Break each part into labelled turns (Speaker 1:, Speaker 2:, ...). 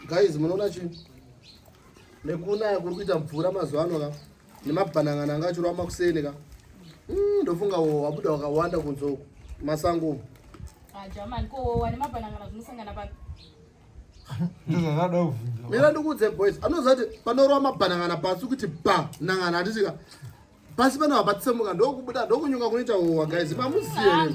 Speaker 1: guys munoona chii nekunaya kuri kuita mvura mazuva ano ka nemabhanangana anga achirwa makuseni ka mm, ndofunga wo wabuda wakawanda kunze uku masango umu
Speaker 2: ah,
Speaker 3: mira ndikuudze boys
Speaker 1: anoziva kuti panorwa mabhanangana pasi kuti ba nangana hatitika pasi pano hapatsemuka ndokubuda ndokunyuka kunoita howa guys mamuzive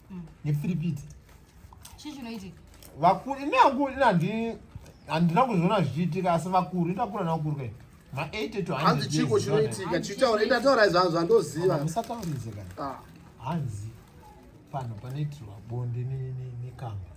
Speaker 3: mm. nefiripiti
Speaker 2: chii chinoitika vakuru ini
Speaker 3: hangu ini handi handina kuzviona zvichiitika asi vakuru itakura navakuru kai ma8 to hanzi chiko chinoitika
Speaker 1: chitaura ndataura izvo hanzi vandoziva musatauridze kana
Speaker 3: ah. hanzi pano panoitirwa bonde nekamba